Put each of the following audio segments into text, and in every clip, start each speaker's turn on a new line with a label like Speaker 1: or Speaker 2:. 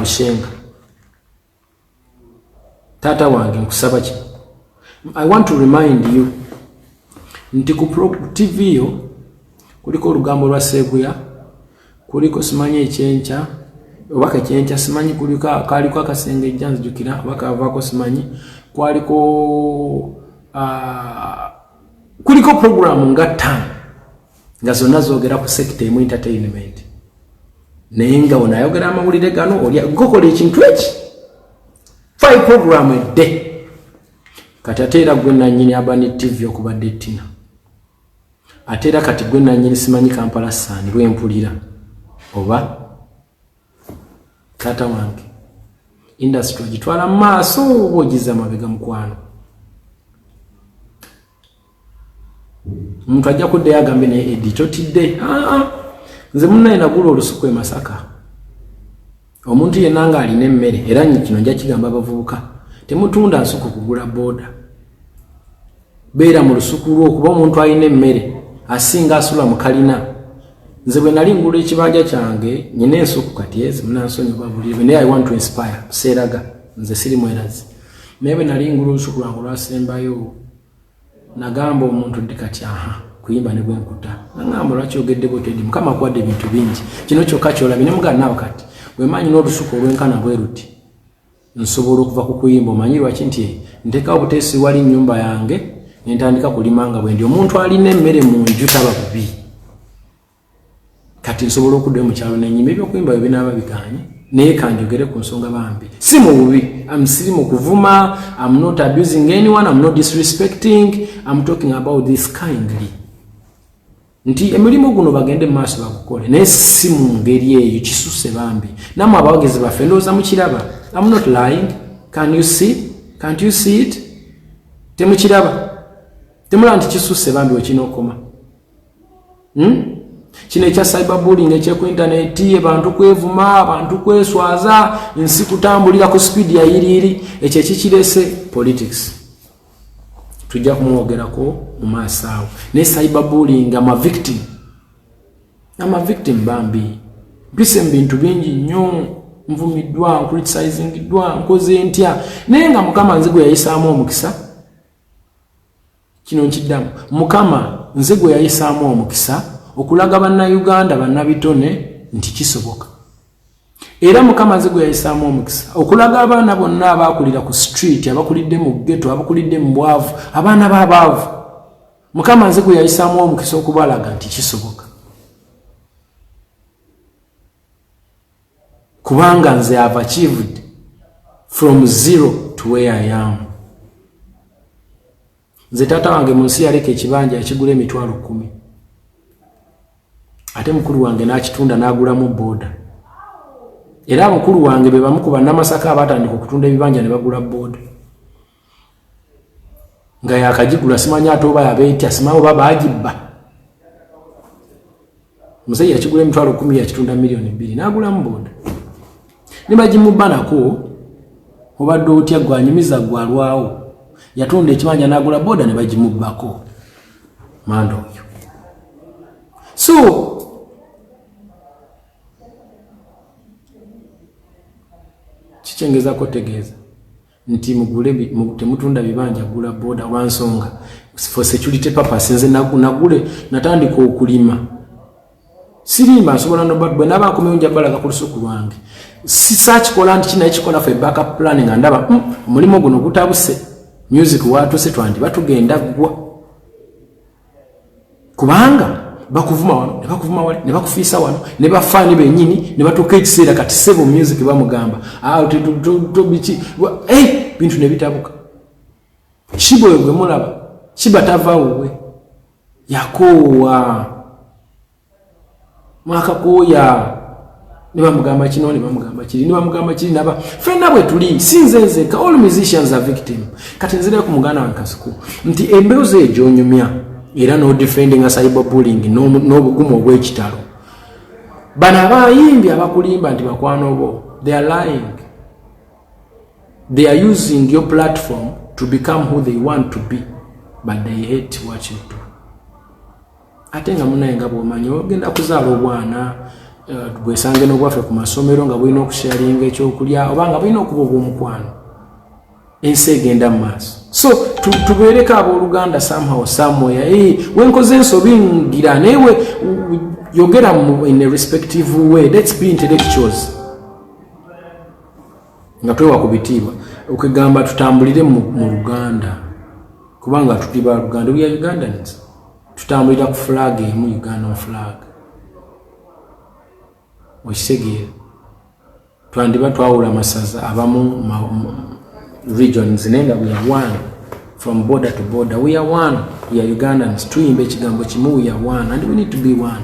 Speaker 1: amushenga taata wange nkusaba ki i want to remind you nti ku tv yo kuliko olugambo lwa seguya kuliko simanyi ekyenkya oba kekyenkya simanyi kaliko akasenge ejja nzijukira oba kavaako simanyi kwaliko ah, kuliko programu nga ttaano nga zonna zogera ku sekita emu entertainment naye nga ono ayogera amawulire gano oli gokola ekintu eki five program edde kati ate era gwe nanyini abani tv okubadde tina ate era kati gwe nanyini simanyi kampala sani lwempulira oba taata wange industry ogitwala mu maaso oba ogiza mabega mukwano omuntu ajja kuddayo agambe naye edi totidde ah, ah. nze munaye nagula olusuku emasaka omuntu yenna nga alina emmere era kino nja kigamba abavubuka temutunda nsuku kugula booda beera mu lusuku lwo kuba omuntu alina emmere asinga asula mu kalina nze bwe nali ngula ekibanja kyange nyina ensuku kati ezi munansonyiwa buli ebe naye i want to inspire seeraga nze siri mwerazi naye bwe nali ngula olusuku lwange olwasembayo nagamba omuntu ndi kati aha kuyimba ne bwenkuta nagamba lwaki ogedde botedi mukama akuwadde ebintu bingi kino kyokka kyolabi ne mugana naawe kati bwemanyi n'olusuku olwenkana bwe luti nsobola okuva ku kuyimba omanyi lwaki nti ntekawo buteesi wali nyumba yange nentandika kulima nga bwendi omuntu alina emmere mu nju taba bubi kati nsobola okuddayo mukyalo nenyima ebyokuyimba byo binaaba biganye naye kanjogere ku nsonga bambi si mu bubi amsiri mu kuvuma am not abusing anyone am not disrespecting am talking about this kindly nti emirimu guno bagende maaso bagukole naye si mu ngeri eyo kisuse bambi namwe abawagizi baffe ndowooza mukiraba am not lying can you see can't you see it temukiraba temulaba nti kisuse bambi wekinookoma hmm? kino ekya cyber bulling ekyeku intaneti abantu kwevuma abantu kweswaza nsi kutambulira ku speed yayiriiri ekyo ekikirese politics tujja kumwogerako mu maaso awo naye cyberbullying ama victim ama victim bambi mpise mu bintu bingi nnyo nvumiddwa ncriticisingddwa nkoze ntya naye nga mukama nze gwe yayisaamu omukisa kino nkiddamu mukama nze gwe yayisaamu omukisa okulaga bannayuganda bannabitone nti kisoboka era mukama nze gwe yayisaamu omukisa okulaga abaana bonna abaakulira ku street abakulidde mu geto abakulidde mu bwavu abaana babaavu mukama nze gwe yayisaamu omukisa okubalaga nti kisoboka kubanga nze ava kivudde from zero to where i am nze taata wange mu nsi yaleka ekibanja yakigula emitwalo kumi ate mukulu wange n'akitunda n'agulamu booda era abukulu wange be bamu ku bannamasaka abatandika okutunda ebibanja ne bagula booda nga yakagigula simanya ate oba yabeetya simawo oba baagibba musajja yakigula emitwalo kumi yakitunda miliyoni bbiri n'agulamu boda ne bagimubanako obadde otya gwanyumiza gwalwawo yatunda ekibanja n'agula boda ne bagimubbako manda oyo so kikyengezako tegeeza nti mugule temutunda bibanja gula boda olwansonga for security purpose nze nagule natandika okulima siriima nsobola nobwe naba nkomewo njabalaga ku lusuku lwange sisakikola nti kinaye kikola fe backup plan nga ndaba hmm, omulimu guno gutabuse music watuse twandi batugenda gwa kubanga bakuvuma wano nebakuvuma wali nebakufiisa wano nebafaani benyini nebatuuka ekiseera kati sebo music bamugamba ah, tobiki eh, bintu nebitabuka shiba oyo gwemulaba shiba tava wuwe yakoowa mwakakooya ne bamugamba kino ne bamugamba kiri ne bamugamba kiri naba fenna bwe tuli si nze nzeka all musicians are victim kati nzira ku muganda wa nkasiku nti embewo ze egyonyumya era n'odefendinga cyber bulling n'obugumu obw'ekitalo bano abayimbi abakulimba nti bakwano bo they are lying they are using your platform to become who they want to be but they hate what you do ate nga munaye nga bwomanyi ogenda kuzaala obwana eh, bwesange nobwaffe ku masomero nga bulina okusharinga ekyokulya oba nga bulina okuba obwomukwano ensi egenda mu maaso so tubeereko abooluganda somehow somewhere hey, eh, wenkoze ensobi ngira naye yogera in a respective way let's be intellectuals nga twewa ku bitiibwa okugamba tutambulire mu luganda kubanga tuli ba luganda bya ugandans tutambulira ku flag emu ugandan flag okitegeera twandiba twawula amasaza abamu regions naye nga we are one from border to border we are one we are ugandans tuyimba ekigambo kimu we are one and we need to be one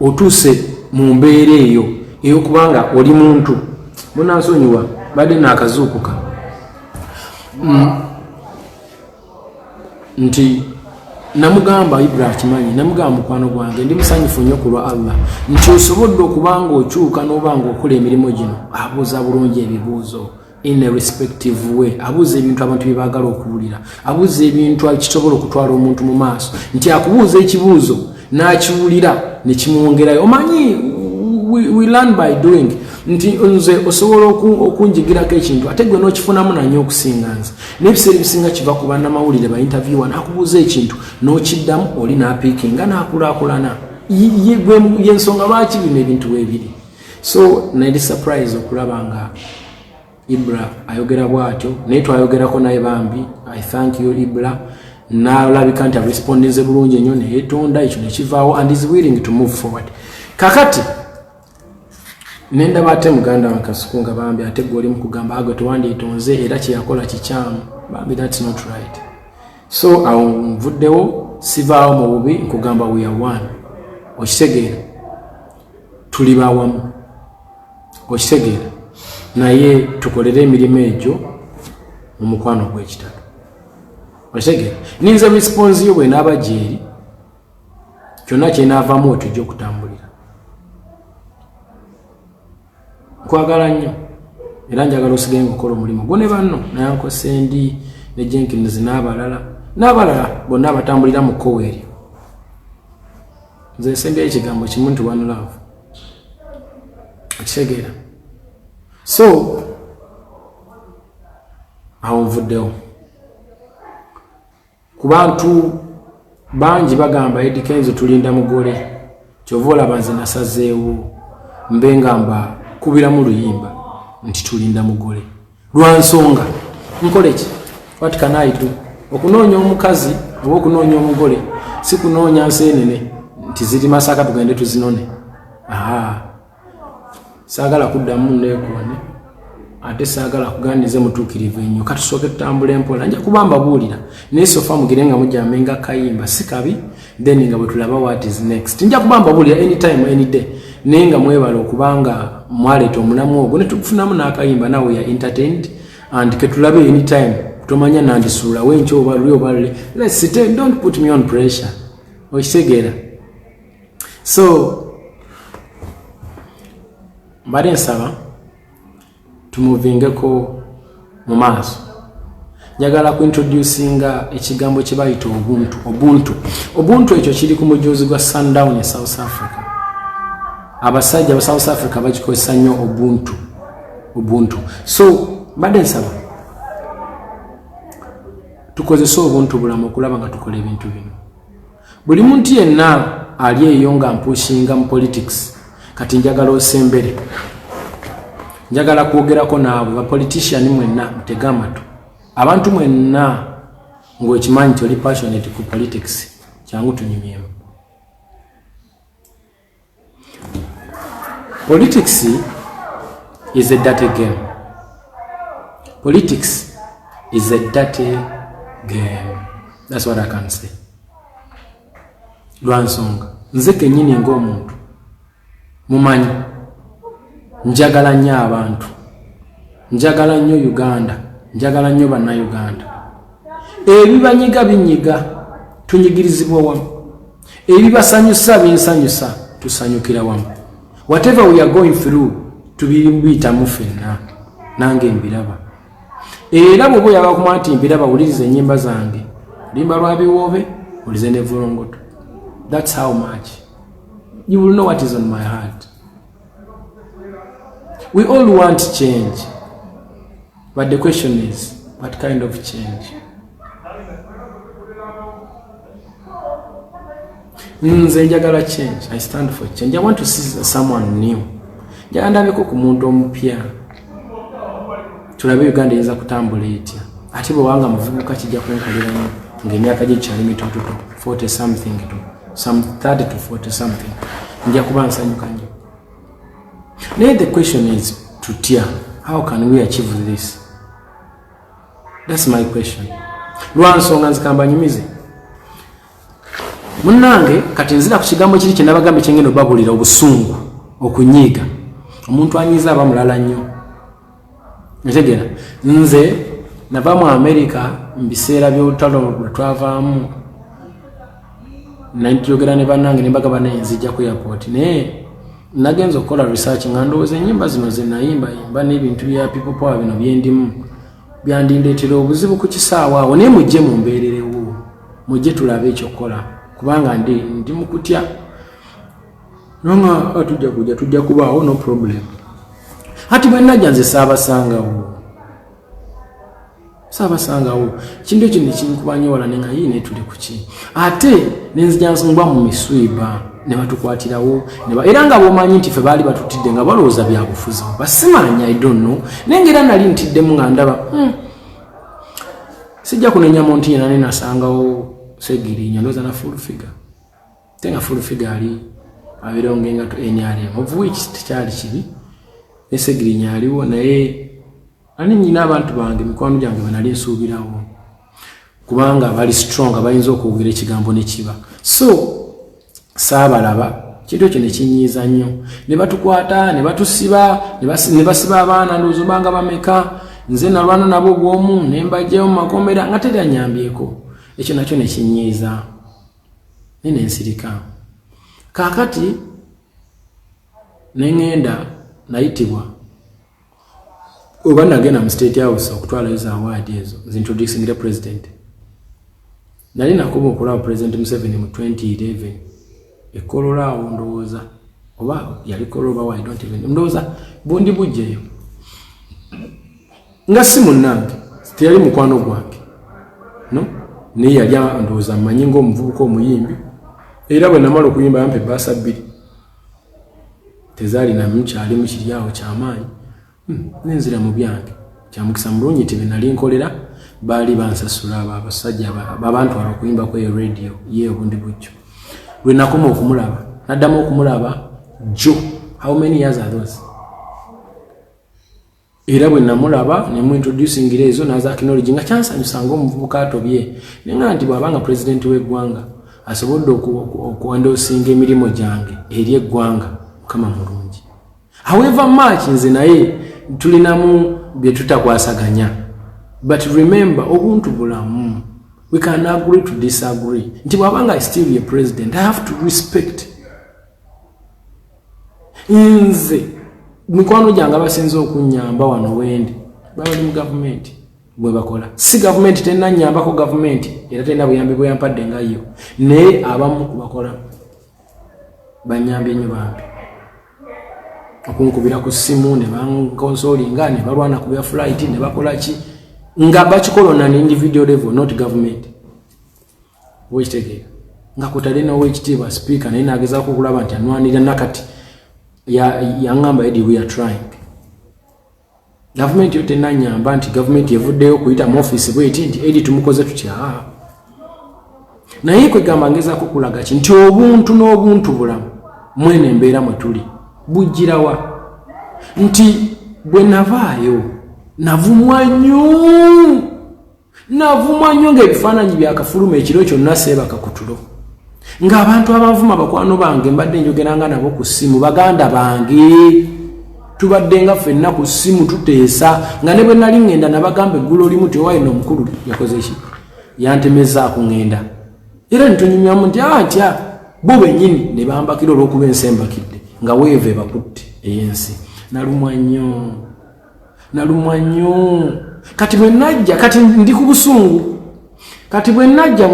Speaker 1: otuuse mu mbeera eyo eyokuba nga oli muntu munansonyiwa badde naakazuukuka mm. nti namugamba ibrah kimanyi namugamba mukwano gwange ndi musanyufu nnyo ku lwa allah nti osobodde okuba nga okyuka n'oba nga okola emirimu gino abuuza bulungi ebibuuzo in a respective way abuuza ebintu abantu bye baagala okuwulira abuuza ebintu kisobola okutwala omuntu mu maaso nti akubuuza ekibuuzo n'akiwulira ne kimwongerayo omanyi we, we learn by doing nti nze osobola okunjigirako ekintu ate gwe n'okifunamu nanyo okusinga nze n'ebiseera ebisinga kiva ku bannamawulire ba interviewa n'akubuuza ekintu n'okiddamu oli n'apiikinga n'akulaakulana yensonga lwaki bino ebintu weebiri so nali surprise okulaba nga ibra ayogera bwatyo naye twayogerako naye bambi i thank you ibra nalabika nti arespondinze bulungi enyo neyetonda ekyo nekivaawo and is willing to move forward kakati nendaba ate muganda wankasuku nga bambi ate gwe olimu kugamba agwe tewandyetonze era kyeyakola kikyamu bambi thats not right so awo nvuddewo sivaawo mu bubi nkugamba weare one okitegeera tuli bawamu okitegeera naye tukolere emirimu egyo mu mukwano gw'ekitalo okitegeera ninze response yo bwenaaba gyeri kyonna kyenaavamu wetujja okutambulira kwagala nnyo era njagala osigaye ngaokola omulimu gwo ne banno nayanko sendi ne jenkins n'abalala n'abalala bonna abatambulira mu kkowa eryo nze nsembyayo ekigambo kimu nti one love okitegeera so awo nvuddewo ku bantu bangi bagamba edi kenzo tulinda mugole kyova olaba nze nasazeewo mbe nga mba kubiramu luyimba nti tulinda mugole lwa nsonga nkole ki wat can i do okunoonya omukazi oba okunoonya omugole si kunoonya nseenene nti ziri masaka tugende tuzinone aa saagala kuddamu neekoone ate saagala kugandize mutuukirivu enyo katusooke tutambula empola nja kuba mbabuulira naye sofa mugire nga mujambe nga kayimba si kabi then nga bwetulaba wat is next nja kuba mbabuulira anytime any day naye nga mwebala okuba nga mwaleeta omulamu ogwo ne tukufunamu n'akayimba nawe ya entertained and ketulabe anytime tomanya nandisuulawo enkyo oba luli oba lule lets sit and don't put me on pressure okitegeera so mbadde nsaba tumuvingeko mu maaso njagala kuintroducinga ekigambo kye bayita obuntu obuntu obuntu ekyo kiri ku mujuzi gwa sundown e south africa abasajja aba south africa bakikozesa nnyo obuntu obuntu so mbadde nsaba tukozese obuntu bulamu okulaba nga tukola ebintu bino Buli muntu yenna ali eyo nga mpushinga mu politics kati njagala osembere njagala kwogerako naabwe bapolitician mwenna mutege amatu abantu mwenna ngaokimanyi nti oli passionate ku politics kyangu tunyumyemu politics is a dirty game politics is a dirty game that's what i can say lwansonga nze kenyini ngaomuntu mumanyi njagala nnyo abantu njagala nnyo uganda njagala nnyo bannauganda ebibanyiga binyiga tunyigirizibwa wamu ebibasanyusa binsanyusa tusanyukira wamu whatever we are going through tubiyitamu fenna nange mbiraba era bwoba oyabakuma nti mbiraba wuliriza enyimba zange limba lwa biwoobe ulize ne volongoto thats how much you will know what is on my heart we all want change But the question is, what kind of change? Nze njagala change. I stand for change. I want to see someone new. Njagala ndabeko ku muntu omupya. Tulabe Uganda eyinza kutambula etya. Ate bwe wanga muvubuka kijja kwenkalira nyo. Nga emyaka gye kyali mitototo. 40 something to some 30 to 40 something. Nja kuba nsanyuka nyo. naye the question is tutya how can we achieve this thats my question lwansonga nzikamba nyumize munange kati nzira ku kigambo kiri kyenabagambe kyengenda obabulira obusungu okunyiiga omuntu anyiiza aba mulala nnyo ntegera nze nava mu amerika mu biseera by'olutalo lwe twavaamu nayogera ne bannange nembaga banayenzijja ku airport naye nagenza okukola research nga ndowooza enyimba zino zenayimbayimba n'ebintu bya people power bino byendimu byandindeetera obuzibu ku kisaawa awo naye mujje mumbeererewo mujje tulabe ekyokukola kubanga ndi ndi mukutya nanga tujja kujja tujja kubaawo no problem hati bwenajja nze saabasangawo saabasangawo kintu ekyo nekinkuba nyo wala nenga yii netuli kuki ate nenzija nsongbwa mu miswiba ne batukwatirawo era nga bomanyi nti fe baali batutidde nga balowooza byabufuzi basimanya idonno naye nga era nali ntiddemu nga ndaba hmm. sijja kunenya muntu yena nenasangawo segirinya ndoza na full figure ate nga full figure ali abeerawo ngaengato nrm of which tekyali kibi nesegirinya aliwo naye ani nyina abantu bange mikwano gyange benali nsuubirawo kubanga bali strong bayinza okwogera ekigambo nekiba so saabalaba kintu ekyo nekinyiiza nnyo ne batukwata ne batusiba ne basiba abaana ndoozobanga bameka nze nalwana nabo obwomu ne mbajjayo mu makomera nga teri anyambyeko ekyo nakyo nekinyiiza naye ne nsirika. Kaakati ne ŋŋenda nayitibwa oba nagenda mu state house okutwalayo za waadi ezo zintroducingire president nali nakuba okulaba president museveni mu 2011 ekolola awo ndowooza oba yali kolola oba ndowooza bundi bujjeyo nga si munnange teyali mukwano gwange no naye yali andowooza mmanyi ngaomuvubuka omuyimbi era bwe namala okuyimba yampa ebbaasa bbiri tezaalinamu kyalimu kiryawo kyamaanyi hmm, nenzira mu byange kyamukisa mulungi nti benali nkolera baali bansasula abo abasajja babantwala okuyimba ku eyo radio ye obundi bujjo lwe nakoma okumulaba naddamu okumulaba jo how many years are those era bwe namulaba ne mu introducingira ezo n'aza akinologi nga kyansanyusa ng'omuvubuka atobye naye nga nti bw'aba nga pulezidenti w'eggwanga asobodde okuwandosinga emirimu gyange eri eggwanga mukama mulungi however much nze naye tulinamu bye tutakwasaganya but remember obuntu bulamu we can agree to disagree nti bw'aba nga still ye president i have to respect nze mikwano gyange abasinza okunyamba wano wendi babali mu gavumenti bwebakola si gavumenti terina nyambako gavumenti era terina buyambi bweyampadde nga yo naye abamu kubakola banyambye nyo bambi okunkubira ku simu nebankonsolinga nebalwana kubya flight nebakolaki nga bakikola on an individual level not government wekitegeera nga kutadde nowekitiibwa sipiika naye nagezaako okulaba nti anwanira nakati yaŋamba edi we are trying gavumenti yo tenanyamba nti gavumenti evuddeyo okuyita mu ofiisi bweti nti edi tumukoze tutya naye kwegamba ngezaako okulaga ki nti obuntu n'obuntu bulamu mwene embeera mwe tuli bujjirawa nti bwe navaayo navumwa nyuu navumwa nnyo ng'ebifaananyi byakafuluma ekiro kyonna seebaka ku tulo ng'abantu abanvuma bakwano bange mbadde njogeranga nabo ku ssimu baganda bange tubadde nga ffenna ku ssimu tuteesa nga ne bwe nali ŋŋenda nabagamba eggulu olimu ti owayina omukulu yakoze ki yantemezaako ŋŋenda era nitunyumyamu nti atya ah, bo bennyini ne bambakira olw'okuba ensi embakidde nga weeva ebakutte ey'ensi nalumwa nnyo nalumwa nnyo kati bwe najja kati ndi ku busungu kati bwe najja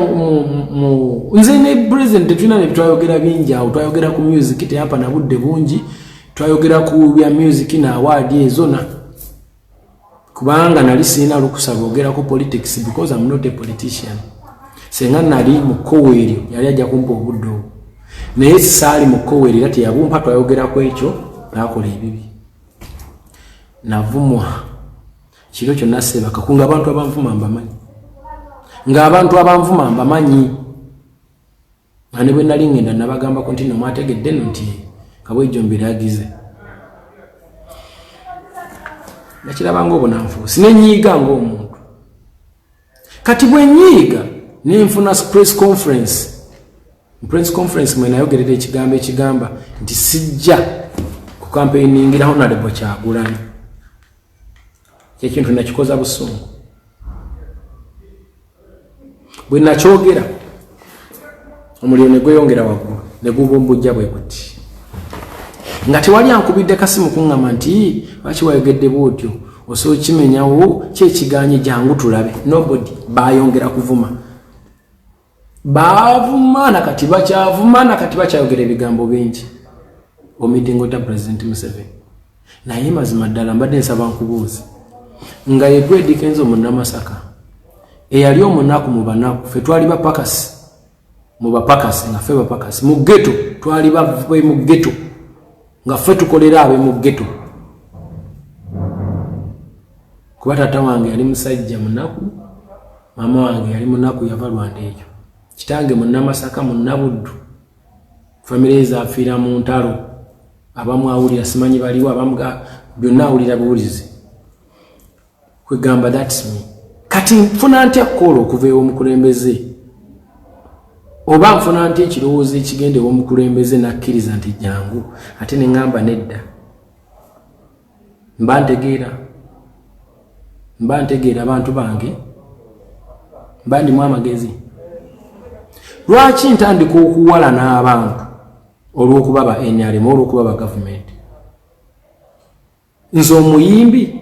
Speaker 1: nze ne president tetulina ne twayogera bingi awo twayogera ku music teyapa na budde bungi twayogera ku bya music na awaadi ezona kubanga nali sirina lukusa lwogera ku politics because am not a politician senga nali mu kkowa eryo yali ajja kumpa obudde obwo naye saali mu kkowa eryo era teyabumpa twayogera ku ekyo nakola ebibi navumwa kiro kyonna sebakaku nga abantu abanvuma mbamanyi nga abantu abanvuma mbamanyi nga ne bwe nali ngenda nabagambako nti no mwategedde no nti kabwejjo mbiragize nakirabanga obunanfuusi nenyiiga ngaomuntu kati bwenyiiga nenfuna press conference press conference mwenayogerera ekigambo ekigamba nti sijja ku kampeiningira honalebo kyagulanyi kyekintu nakikoza busungu bwenakyogera omuliro ne gweyongera waggulu ne gubumbujja bwe guti nga tewali ankubidde kasimu kuŋŋama nti lwaki wayogedde bwotyo osobola kimenyawo kyekiganye jangu tulabe nobody bayongera kuvuma bavuma nakati bakyavuma nakati bakyayogera ebigambo bingi omitingo ta president museveni naye mazima ddala mbadde nsaba nkubuuzi nga yegwedikenza omunamasaka eyali omunaku mu banaku fe twali bapakasi mu bapakasi nga fe bapakasi mu geto twali bave mu geto nga fe tukolera abe mu geto kuba tata wange yali musajja munaku maama wange yali munaku yava lwanda ekyo kitange munamasaka munabuddu famire ezafiira mu ntalo abamu awulira simanyi baliwo abamu byonna awulira buwulizi kwegamba thats me kati nfuna ntya kukoola okuva ewomukulembeze oba nfuna ntya ekirowoozo ekigenda ewomukulembeze nakkiriza nti jangu ate neŋamba nedda Mba ntegeera, mba ntegeera bantu bange, mba ndimu amagezi. Lwaki ntandika okuwalana abantu olw'okuba ba NRM olw'okuba ba gavumenti? Nze omuyimbi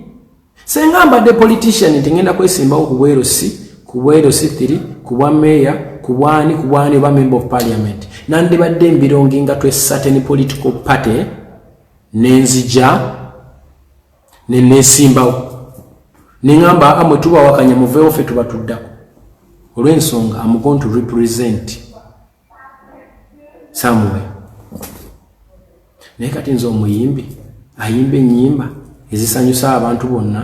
Speaker 1: senga mbadde politician nti ngenda kwesimbawo ku bwerosi ku bwerosi thiri ku bwa meeya ku bwani ku bwani oba member of parliament nandibadde embirongi nga twesateni political party ne nzija ne nneesimbawo ne ŋamba amwe tubawakanya muveewo ffe tuba tuddako olw'ensonga amugon to represent samuwe naye kati nze omuyimbi ayimba ennyimba ezisanyusa abantu bonna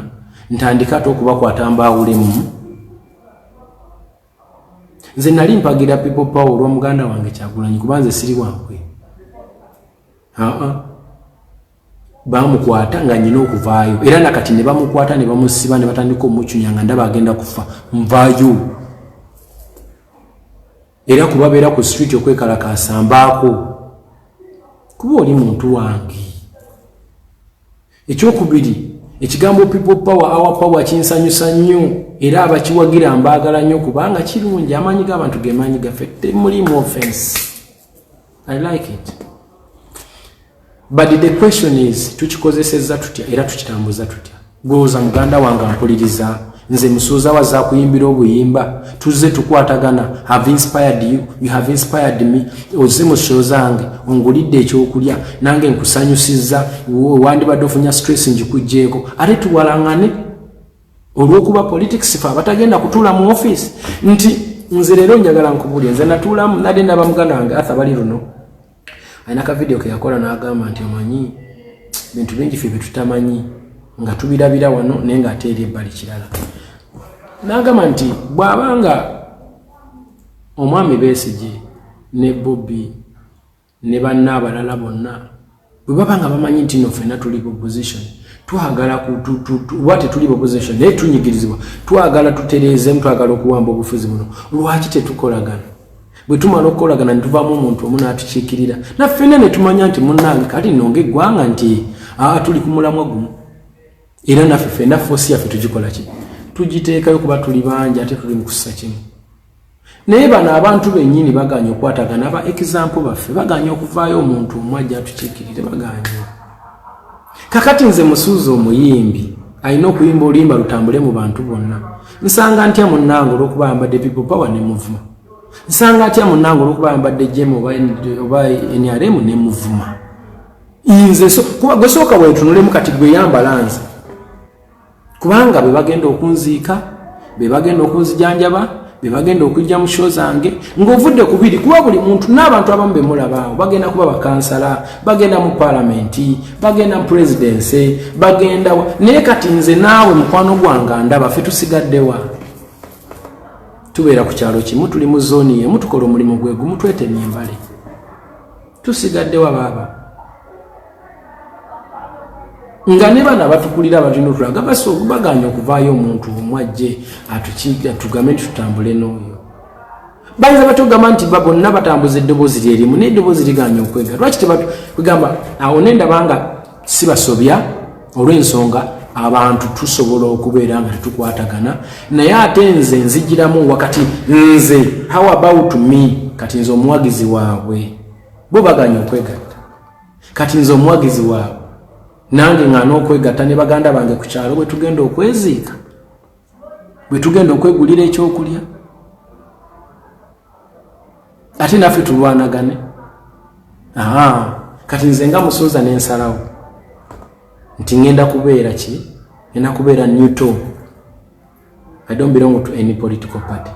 Speaker 1: ntandika ate okubakwata mbaawulemu nze nali mpagira people power olwa muganda wange kyagulanyi kuba nze siri wankwe bamukwata nga nyina okuvaayo era nakati ne bamukwata ne bamusiba ne batandika omucunya nga ndaba agenda kufa nvayo era kubabeera ku street okwekalakaasa mbaako kuba oli muntu wange ekyokubiri ekigambo people power our power kinsanyusa nnyo era abakiwagira mbaagala nnyo kubanga kirungi amaanyi g'abantu ge maanyi gaffe temulimu offense i like it but the question is tukikozesezza tutya era tukitambuza tutya gwewoza muganda wange ampuliriza nze musuuza waza kuyimbira obuyimba tuzze tukwatagana have inspired you you have inspired me ozze mu sho zange ongulidde ekyokulya nange nkusanyusizza wandibadde ofunya stress ngikugjeeko ate tuwalangane olwokuba politics fe abatagenda kutuula mu office nti nze leero njagala nkubulya nze natuulamu nade naba muganda wange atha bali luno alina ka vidiyo keyakola nagamba nti omanyi bintu bingi fe byetutamanyi nga tubirabira wano naye nga ate eri ebbali kirala nagamba nti bwabanga omwami besigi ne bobi ne banne abalala bonna bwe baba nga bamanyi nti no ffena tuli bopposition twagala kuba tetuli bopposition naye tunyigirizibwa twagala tutereezemu twagala okuwamba obufuzi buno lwaki tetukolagana bwe tumala okukolagana netuvaamu omuntu omu n'atukiikirira naffena ne tumanya nti munange kati nonga eggwanga nti aa tuli ku mulamwa gumu era naffe ffena foosi yaffe tugikola ki tugiteekayo kuba tuli bangi ate tuli mu kussa kimu naye bano abantu benyini baganye okwatagana aba example baffe baganye okuvaayo omuntu omu ajja atukiikirire baganye kakati nze musuuza omuyimbi alina okuyimba oluyimba lutambule mu bantu bonna nsanga ntya munnange olwokuba ayambadde people power ne muvuma nsanga atya munnange olwokuba ayambadde jemu oba nrm ne muvuma nze kuba gwesooka wetunulemu kati gweyambala nze kubanga be bagenda okunziika be bagenda okunzijanjaba be bagenda okujja mu sho zange ng'ovudde ku biri kuba buli muntu n'abantu abamu be mulabaawo bagenda kuba bakansala bagenda mu palamenti bagenda mu purezidensi bagendawa naye kati nze naawe mukwano gwange ndaba fe tusigaddewa tubeera ku kyalo kimu tuli mu zooni yemu tukola omulimu gwe gumu twetemye embale tusigaddewa baaba nga ne bana batukulira abatulina otulaga basi okubaganya okuvaayo omuntu omu ajje atugame nti tutambule n'oyo bayinza batugamba nti ba bonna batambuza eddoboozi lyerimu naye eddoboozi liganya okwega lwaki tebagamba awo nendaba nga sibasobya olw'ensonga abantu tusobola okubeera nga tetukwatagana naye ate nze nzijiramu wakati nze how about me kati nze omuwagizi waabwe bo baganya okwegatta kati nze omuwagizi waabwe nange nga n'okwegatta ne baganda bange ku kyalo bwe tugenda okweziika bwe tugenda okwegulira ekyokulya ate naffe tulwanagane kati nze nga musuuza nensalawo nti ŋenda kubeera ki ena kubeera newton i don't belong to any political party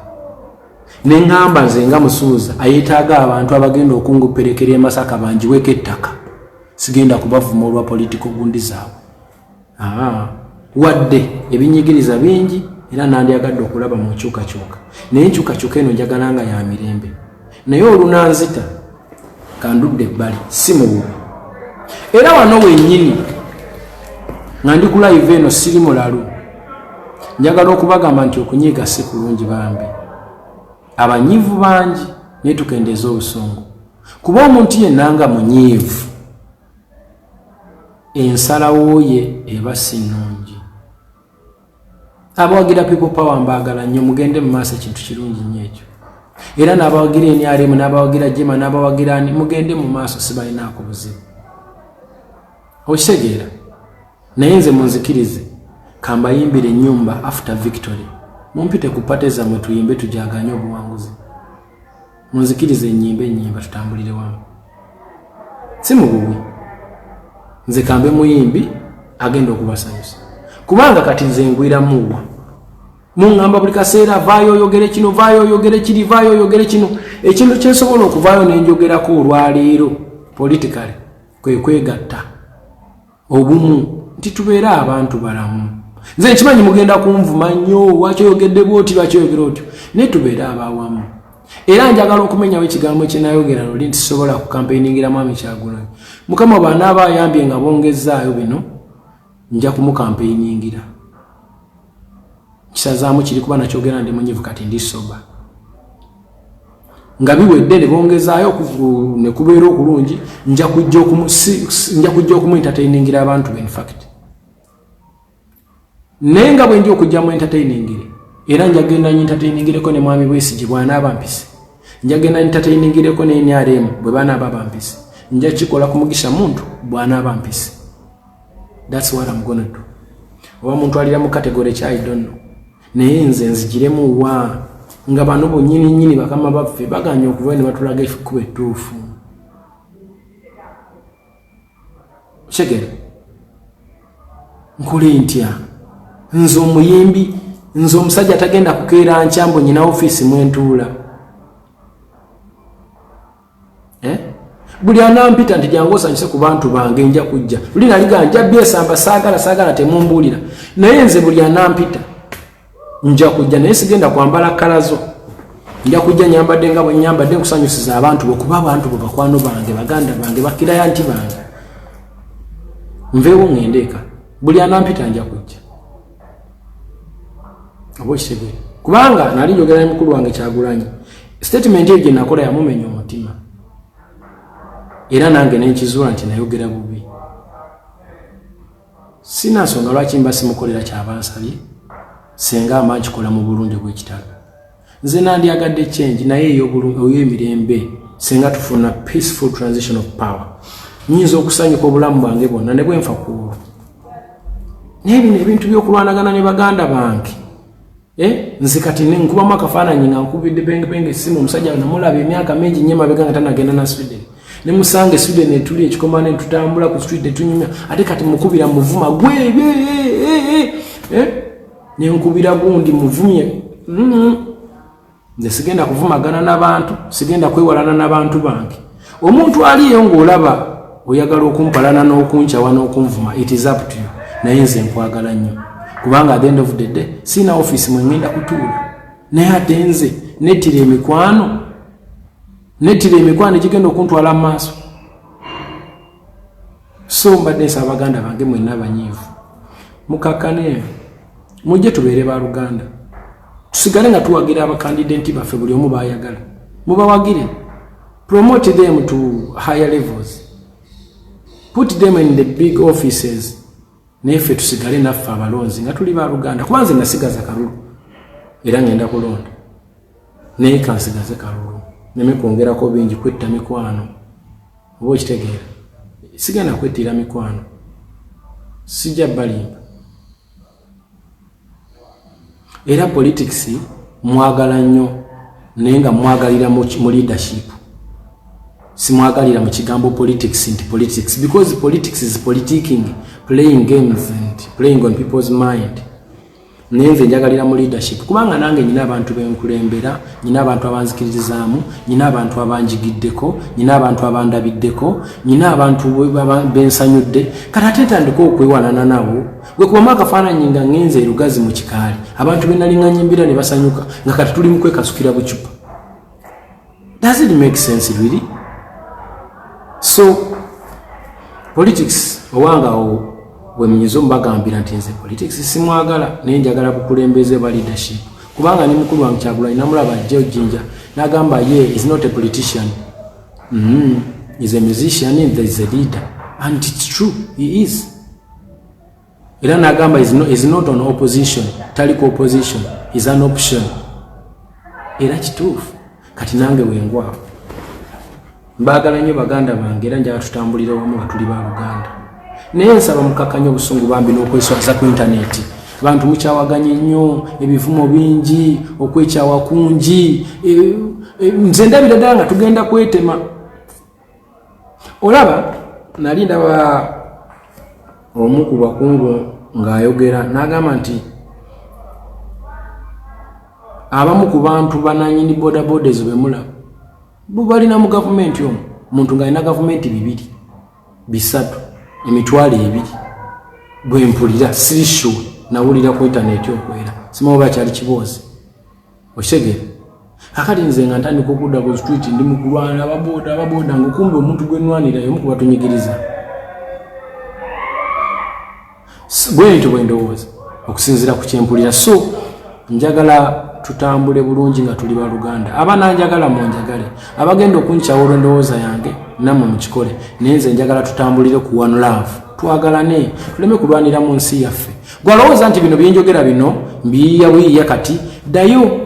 Speaker 1: nengamba nze nga musuuza ayetaaga abantu abagenda okunguperekera emasaka banjiweko ettaka sigenda kubavuma olwa politiko gundi zaabwe ah, wadde ebinyigiriza bingi era nandyagadde okulaba mu nkyukakyuka naye enkyukakyuka eno njagala nga ya mirembe naye olunanzita kandudde ebbali si mububi era wano wenyini nga ndi kulayiva eno siri mulalu njagala okubagamba nti okunyiiga si kulungi bambi abanyivu bangi naye tukendeeza obusungu kuba omuntu yenna nga munyiivu ensalawo ye eba si nnungi abawagira people power mbagala nnyo mugende mu maaso ekintu kirungi nnyo ekyo era n'abawagira enyaremu n'abawagira jema n'abawagira ani mugende mu maaso sibalinaako buzibu okitegeera naye nze munzikirize kambayimbira ennyumba after victory mumpite ku pate zammwe tuyimbe tujaganye obuwanguzi munzikiriza enyimba enyimba tutambulire wamu si mububi nze kambe muyimbi agenda okubasanyusa kubanga kati nze ngwiramuwa muŋamba buli kaseera vaayo oyogere kino vaayo oyogere kiri vaayo oyogere kino ekintu kyensobola okuvaayo nenjogerako olwaleero politikale kwekwegatta obumu nti tubeere abantu balamu nze nkimanyi mugenda kunvuma nnyo wakyoyogedde bwoti lwakyoyogera otyo naye tubeere abawamu era njagala okumenyawo ekigambo kyenayogera luli nti sobola kukampeiningira mwami kyagulanyi mukama bwanaaba ayambye nga bongezaayo bino nja kumukampeiningira kisazaamu kiri kuba nakyogera ndi munyivu kati ndi soba nga biwedde ne bongezaayo ne kubeera okulungi nja kujja okumuentertainingira abantu be infact naye nga bwendi okujja mu entertainingire era njagenda entertainingireko ne mwami bwesi gye bwanaaba mpise njagenda entertainingireko ne nrm bwe banaaba bampise nja kikola kumugisha muntu bwanaaba mpise that's what I'm gonna do oba muntu alira mu category kyayi donno naye nze nzigiremu wa nga bano bonyini nyini bakama baffe baganye okuva ne batulaga ekikuba ettuufu kigere nkole ntya nze omuyimbi nze omusajja tagenda kukeera nkyambo nyina ofiisi mwentuula eh? buli anampita nti jangu osanyuse ku bantu bange nja kujja luli naliga nja byesamba saagala saagala temumbuulira naye nze buli anampita nja kujja naye sigenda kwambala kalazo nja kujja nyambadde nga bwenyambadde nkusanyusiza abantu bwekuba abantu bwe bakwano bange baganda bange bakiraya nti bange nveewo ŋendeeka buli anampita nja kujja oba okitegere kubanga nali njogera ne mukulu wange kyagulanyi sitatimenti eyo gye nakola yamumenya omutima era nange nenkizuula nti nayogera bubi sina nsonga lwaki mba simukolera kyabansabye senga amba nkikola mu bulungi bwekitalo nze nandyagadde change naye eyoemirembe singa tufuna peaceful transition of power nyinza okusanyuka obulamu bwange bwonna ne bwenfa kuolwo naye bino ebintu byokulwanagana ne baganda bange eh, nze kati nkubamu akafaananyi nga nkubidde bengebenge esimu omusajja namulaba emyaka mingi nyo emabega nga tanagenda na sweden ne musanga esude netuli ekikoma ne tutambula ku street ne tunyumya ate kati mukubira muvuma gwe eh, eh, eh, nenkubira gundi muvumye mm-hmm. nze sigenda kuvumagana nabantu sigenda kwewalana nabantu bange omuntu aliyo ngaolaba oyagala okumpalana n'okunkyawa n'okunvuma it is up to you naye nze nkwagala nnyo kubanga at the end of the day siina office mwengenda kutuula naye ate nze netira emikwano netira emikwano egigenda okuntwala mu maaso so mbadde nsaba baganda bange mwenna abanyiivu mukakkane mujje tubeere ba luganda tusigale nga tuwagira abakandidenti baffe buli omu bayagala mubawagire promote them to higher levels put them in the big offices naye ffe tusigale naffe abalonzi nga tuli ba luganda kuba nze nasigaza kalulu era ngenda kulonda naye kansigaze kalulu neme kwongerako bingi kwetta mikwano oba okitegeera sigenda kwettiira mikwano sijja balimba era politics mwagala nnyo naye nga mwagalira mu leadership simwagalira mu kigambo politics nti politics because politics is politiking playing games and playing on people's mind naye nze njagalira mu leadership kubanga nange nyina abantu benkulembera nyina abantu abanzikiririzaamu nyina abantu abanjigiddeko nyina abantu abandabiddeko nyina abantu bensanyudde kati ate ntandika okwewanana nabo gwe kubamu akafaananyi nga ngenze erugazi mu kikaali abantu benalinganyimbira ne basanyuka nga kati tuli mu kwekasukira bucupa Does it make sense really? So politics owanga wemunyiza omubagambira nti nze politics simwagala naye njagala bukulembeze ba leadership kubanga ne mukulu wange kyagulanyi namulaba ajja ojinja nagamba ye is not a politician mm -hmm. is a musician and there is a leader and it's true he is era nagamba is not on opposition taliko opposition is an option era kituufu kati nange wengwawo mbaagala nnyo baganda bange era njala tutambulira wamu nga tuli baluganda naye nsaba mukakanya obusungu bambi n'okweswaza ku intaneti bantu mukyawaganye nnyo ebivumo bingi okwekyawa kungi e, e, nze ndabira ddala nga tugenda kwetema olaba nali ndaba omu ku bakungu ng'ayogera n'agamba nti abamu ku bantu bananyini bodaboda ezo bemula bubalina mu gavumenti omu muntu ng'alina gavumenti bibiri bisatu emitwalo ebiri bwempulira sirisure nawulira ku intaneti okwera simaoba kyali kiboozi okitegere akati nze nga ntandika okudda ku street ndi mukulwana ababoda ababoda ngaokumbi omuntu gwenwanira yomu kubatunyigiriza bwentyo bwendowooza okusinzira ku kyempulira so njagala tutambule bulungi nga tuli baluganda abana njagala munjagale abagenda okunkyawa olwendowooza yange namwe mukikole naye nze njagala tutambulire ku one love twagalane tuleme kulwanira mu nsi yaffe gwalowooza nti bino byenjogera bino mbiyiya buyiya kati dayo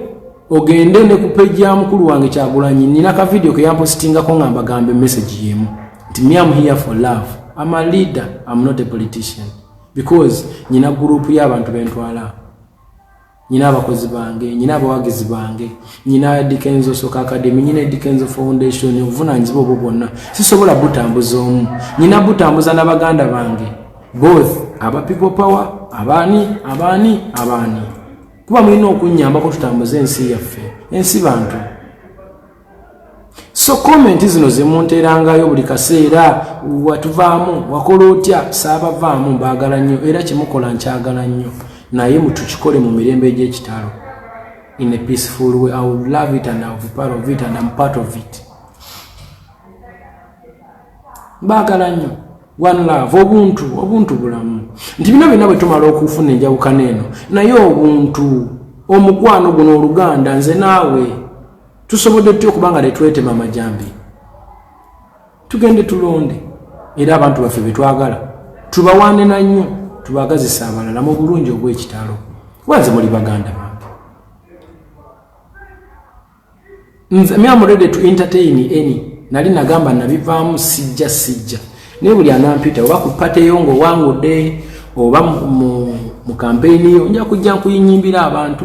Speaker 1: ogende ne ku peji ya mukulu wange kyagulanyi nina ka vidiyo ke yampositingako nga mbagambe meseji yemu nti mi am here for love am a leader am not a politician because nyina gurupu y'abantu bentwala nyina abakozi bange nyina abawagizi bange nyina dikenzo soka academy nyina dikenzo foundation obuvunanyizibwa obwo bwonna sisobola butambuza omu nyina butambuza n'abaganda bange both aba people power abaani abaani abaani kuba mulina okunnyambako tutambuze ensi yaffe ensi bantu so komenti zino zemunterangayo buli kaseera watuvaamu wakola otya saabavaamu mbaagala nnyo era kyemukola nkyagala nnyo naye mutukikole mu mirembe egyekitalo in a peaceful way i would love it and iwould part of it and am part of it mbaagala nnyo one love obuntu obuntu bulamu nti bino byonna bwe tumala okufuna enjawukana eno naye obuntu omukwano guno oluganda nze naawe tusobodde tutya okuba nga tetwetema amajambi tugende tulonde era abantu baffe betwagala tubawande na nnyo tubagazisa abalala mu bulungi obwekitalo wanze muli baganda bange nze mi am ready to entertain any nali nagamba nabivaamu sijja sijja naye buli anampita oba ku pate yo nga owangudde oba mu kampeyini yo nja kujja nkuyinyimbira abantu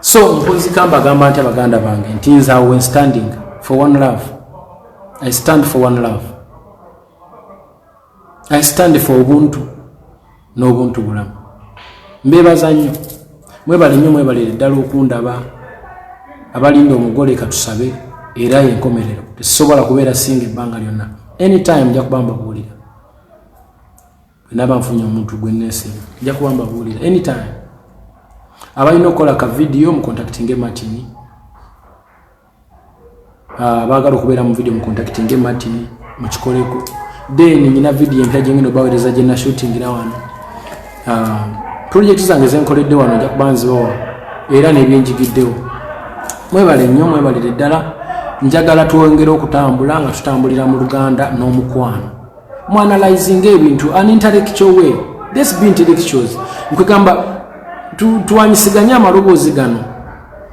Speaker 1: so mpozi kamba agamba nti abaganda bange nti nze awo wen standing for one love i stand for one love i stand for ubuntu n'obuntu bulamu mbebaza nnyo mwebale nnyo mwebalire ddala okundaba abalinda omugole katusabe era yenkomerero tesobola kubeera singa ebbanga lyonna anytime nja kuba mbabuulira naba nfunye omuntu gwe nesinga nja kuba mbabuulira anytime abalina okukola ka vidiyo mukontaktinge martini ah, baagala okubeera mu vidiyo mukontaktinge martini mukikoleko then nyina vidiyo empya gyengenda obawereza gye nashutingira wano ah, pulojekiti zange zenkoledde wano nja kuba nzibawa era nebyenjigiddewo mwebale nnyo mwebalire ddala njagala twongere okutambula nga tutambulira mu luganda n'omukwano mwanalizinga ebintu an intellectual way this be intellectuals nkwegamba twanyisiganye amaloboozi gano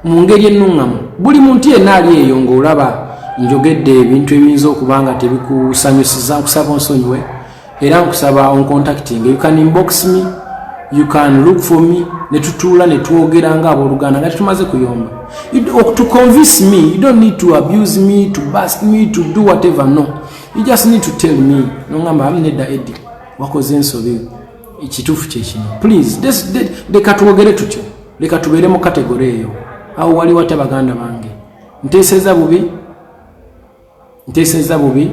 Speaker 1: mu ngeri ennuŋŋamu buli muntu yenna ali eyo ng'olaba njogedde ebintu ebiyinza okuba nga tebikusanyusiza nkusaba onsonyiwe era nkusaba oncontacting you can inbox me you can look for me ne tutuula ne twogera nga abooluganda nga tetumaze kuyomba to convince me you don't need to abuse me to bust me to do whatever no you just need to tell me nongamba am nedda edi wakoze ensobi ekituufu kyekino please leka twogere tutyo leka tubeere mu kategore eyo awo wali watya baganda bange nteeseza bubi nteeseza bubi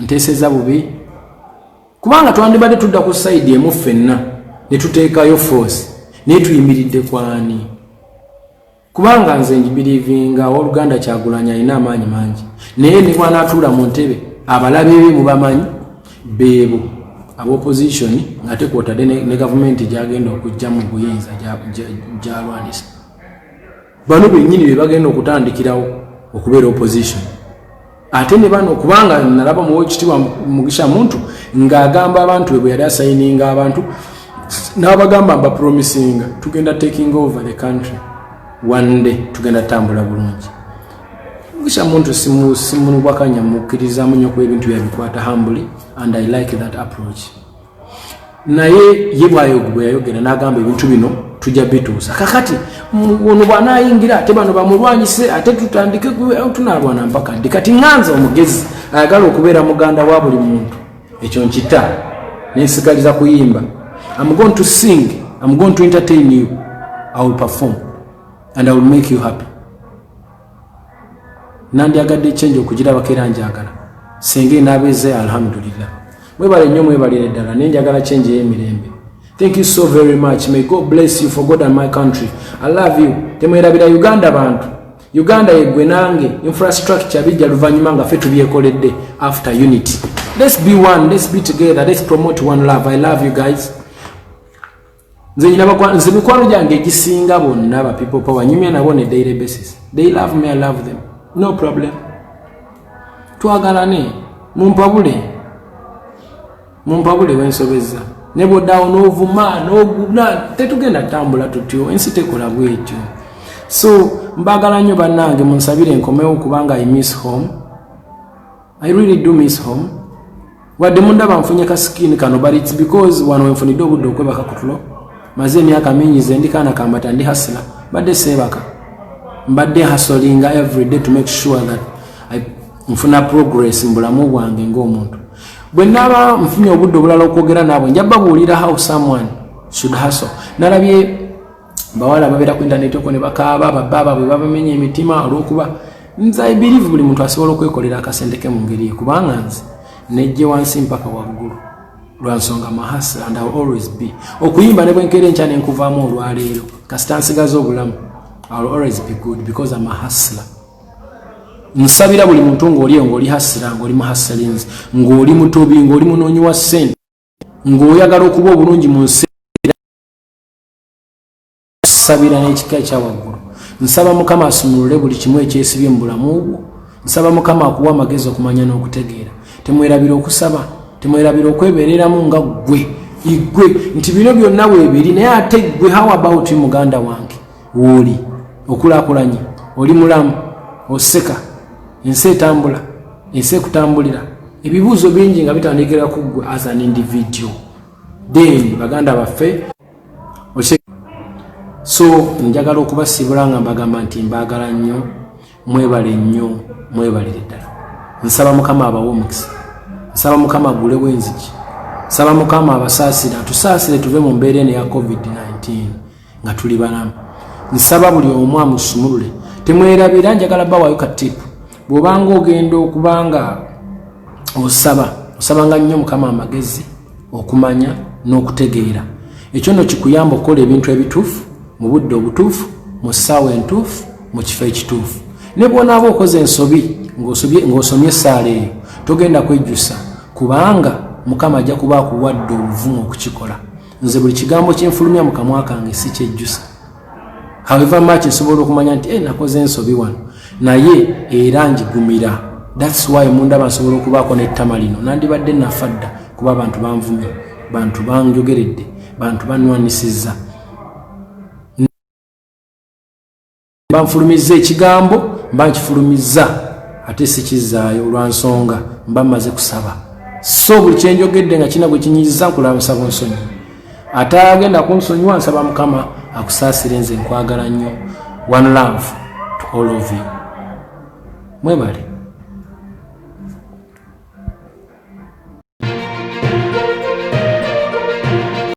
Speaker 1: nteeseza bubi kubanga twandibadde tudda ku sayidi emu ffenna ne tuteekayo force naye tuyimiridde kwani kubanga nze njibilivinga owoluganda kyagulanyi alina amaanyi mangi naye ne bwanatuula mu ntebe abalabe be mubamanyi beebo abaopposition ngate kwotadde ne gavumenti gyagenda okujja mu buyinza gyalwanisa bano benyini bebagenda okutandikirawo okubeera opposition ate ne bano kubanga nalaba muwa ekitibwa mugisha muntu ng'agamba abantu bwe bwe yali asayininga abantu n'abagamba mbapromisinga tugenda taking over the country one day tugenda tambula bulungi mugisha muntu simunubwakanya mukkirizamu nyo kuba ebintu byabikwata hambuli and i like that approach naye ye bwayogwe yayogera nagamba ebintu bino tujja bituusa kakati ono bwanayingira ate bano bamulwanyise ate tutandike eh, tunalwana mpaka ndi kati nganza omugezi ayagala okubeera muganda wa buli muntu ekyo nkita nensigaliza kuyimba am going to sing am going to entertain you i will perform and i will make you happy nandyagadde ekyenja okugirabako era njagala senga enaabeze alhamdulillah mwebale nnyo mwebalire ddala naye njagala kyenja eyemirembe thank you so very much may god bless you for god and my country i love you temwerabira uganda bantu uganda yegwe nange infrastructure bijja luvannyuma nga fe tubyekoledde after unity let's be one let's be together let's promote one love i love you guys nze nyina bakwa nze mikwano gyange egisinga bonna ba people power nyumya nabo ne daily basis they love me i love them no problem twagalane mumpabule mumpabule wensobezza ne bwodaawo n'ovuma n'oguna tetugenda tambula tutyo ensi tekola bwetyo so mbagala nnyo bannange munsabire enkomewo kubanga i miss home I really do miss home wadde mundaba nfunye ka skin kano but it's because wano wenfunidde obudde okwebaka kutulo maze emyaka mingi ze ndikaana kambata ndi hasila mbadde seebaka mbadde hasolinga everyday to make sure that I nfuna progress mu bulamu bwange ng'omuntu bwe naaba nfunye obudde obulala okwogera naabwe nja babuulira how someone should hustle nalabye bawala babeera ku intaneti okwo ne bakaaba babba baabwe babamenya emitima olwokuba nze i believe buli muntu asobola okwekolera akasente ke mu ngeri ye kubanga nze nejje wansi mpaka waggulu lwa nsonga mahasa and ill always be okuyimba ne bwenkeera enkya ne nkuvaamu olwaleero kasita nsigaza obulamu ill always be good because am a hustler nsabira buli muntu ng'olieyo ng'oli hasira ng'oli muhasalinzi ng'oli mutobi ng'oli munoonyi wa ssente ng'oyagala okuba obulungi mu nsi kusabira n'ekika ekyawaggulu nsaba mukama asumulule buli kimu ekyesibye mu bulamu bwo nsaba mukama akuwa amagezi okumanya n'okutegeera temwerabira okusaba temwerabira okwebereramu nga ggwe igwe nti bino byonna weebiri naye ate ggwe how about muganda wange wooli okulakulanye oli mulamu oseka ensi etambula ensi ekutambulira ebibuuzo bingi nga bitandikira ku ggwe as an individual then baganda baffe so njagala okubasibula nga mbagamba nti mbagala nnyo mwebale nnyo mwebalire ddala nsaba mukama abawe omukisa nsaba mukama agulewo enziki nsaba mukama abasaasire atusaasire tuve mu mbeera eno ya covid-19 nga tuli balamu nsaba buli omu amusumulule temwerabira njagala bawayo katipu bwobanga ogenda okubanga osaba osabanga nnyo mukama amagezi okumanya n'okutegeera ekyo no kikuyamba okukola ebintu ebituufu mu budde obutuufu mu ssaawa entuufu mu kifo ekituufu ne bwonaaba okoze ensobi ng'osomye essaala eyo togenda kwejjusa kubanga mukama ajja kuba akuwadde obuvumu okukikola nze buli kigambo kyenfulumya mu kamwa kange si kyejjusa haweva mach nsobola okumanya nti e eh, nakoze ensobi wano naye era njigumira thats why mundaba nsobola okubaako nettama lino nandibadde nafa dda kuba abantu banvumye bantu banjogeredde bantu banwanisiza banfulumizza ekigambo mba nkifulumizza ate sikizzaayo olwa nsonga mba mmaze kusaba so buli kyenjogedde nga kirina gwe kinyiiza nkulaba nsaba onsonyi ate agenda kunsonyiwa nsaba mukama akusaasire nze nkwagala nnyo one love to all of you mwebale